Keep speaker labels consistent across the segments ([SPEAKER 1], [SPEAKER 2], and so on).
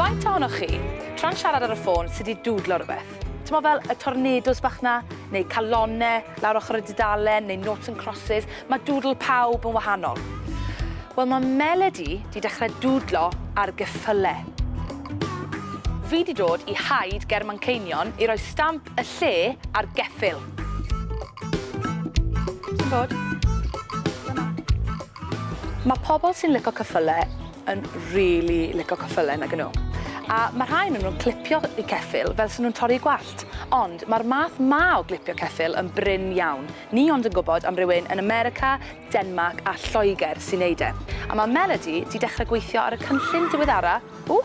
[SPEAKER 1] Faint ohonoch chi, tra'n siarad ar y ffôn, sy' 'di dwdlo rhywbeth? T'mo' fel y tornados bach 'na, neu calonne lawr ochr y dudalen, neu noughts and crosses, ma' dwdl pawb yn wahanol. Wel, ma' Melody 'di dechre dwdlo ar geffyle. Fi 'di dod i haid ger Manceinion i roi stamp y lle ar geffyl. Ti'n bod? Mae pobl sy'n licio cyffylau yn really licio cyffylau nag nhw. A mae rhai yn nhw'n clipio i ceffyl fel sy'n nhw'n torri gwallt. Ond mae'r math ma o glipio ceffyl yn brin iawn. Ni ond yn gwybod am rywun yn America, Denmark a Lloegr sy'n neud e. A mae Melody di dechrau gweithio ar y cynllun diweddara... Ww!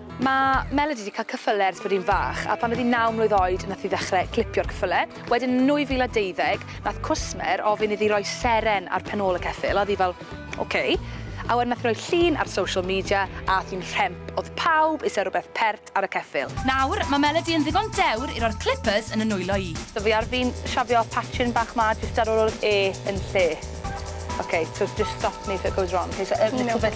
[SPEAKER 1] Mae Melody 'di cael cyffyle ers bod hi'n fach a phan oedd hi'n naw mlwydd oed nath hi ddechrau clipio'r cyffyle. Wedyn yn 2012 nath cwsmer ofyn iddi roi seren ar pen ôl y ceffyl a oedd hi fel ok. A wedyn nath hi roi llun ar social media a ath hi'n rhemp, oedd pawb eisiau rhywbeth pert ar y ceffyl. Nawr, mae Melody yn ddigon dewr i roi'r clippers yn y nwylo i. So fi ar fin shafio patchyn bach 'ma jyst ar ôl yr e yn lle. Ok, so just stop me if it goes wrong. Ok, so a little bit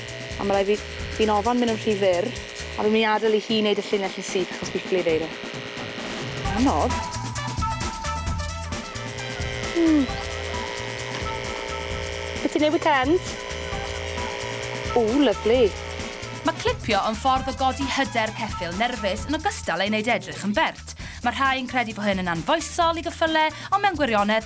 [SPEAKER 1] A ma' rai' fi fi'n ofon myn' yn rhy fyr a fi myn' i adel i hi neud y llinell yn syth achos fi ffili neud e. Anodd. Hmm. Be' ti'n neud weekend? Ww, lyfli. Mae clipio yn ffordd o godi hyder ceffyl nerfus yn ogystal â'i wneud e edrych yn bert. Mae rhai yn credu bod hyn yn anfoesol i geffylau, ond mewn gwirionedd,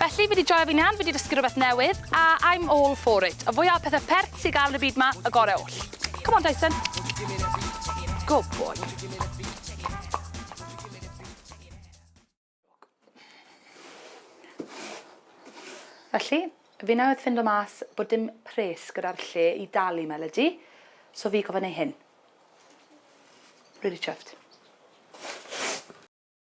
[SPEAKER 1] Felly, fi wedi joio fi nan, fi wedi dysgu rhywbeth newydd, a I'm all for it. Y fwyaf o pethau perth sy'n gael yn y byd ma, y gorau oll. Come on, Dyson. Go boy. Felly, fi newydd ffindo mas bod dim pres gyda'r lle i dalu Melody, so fi gofyn ei hyn. Really chuffed.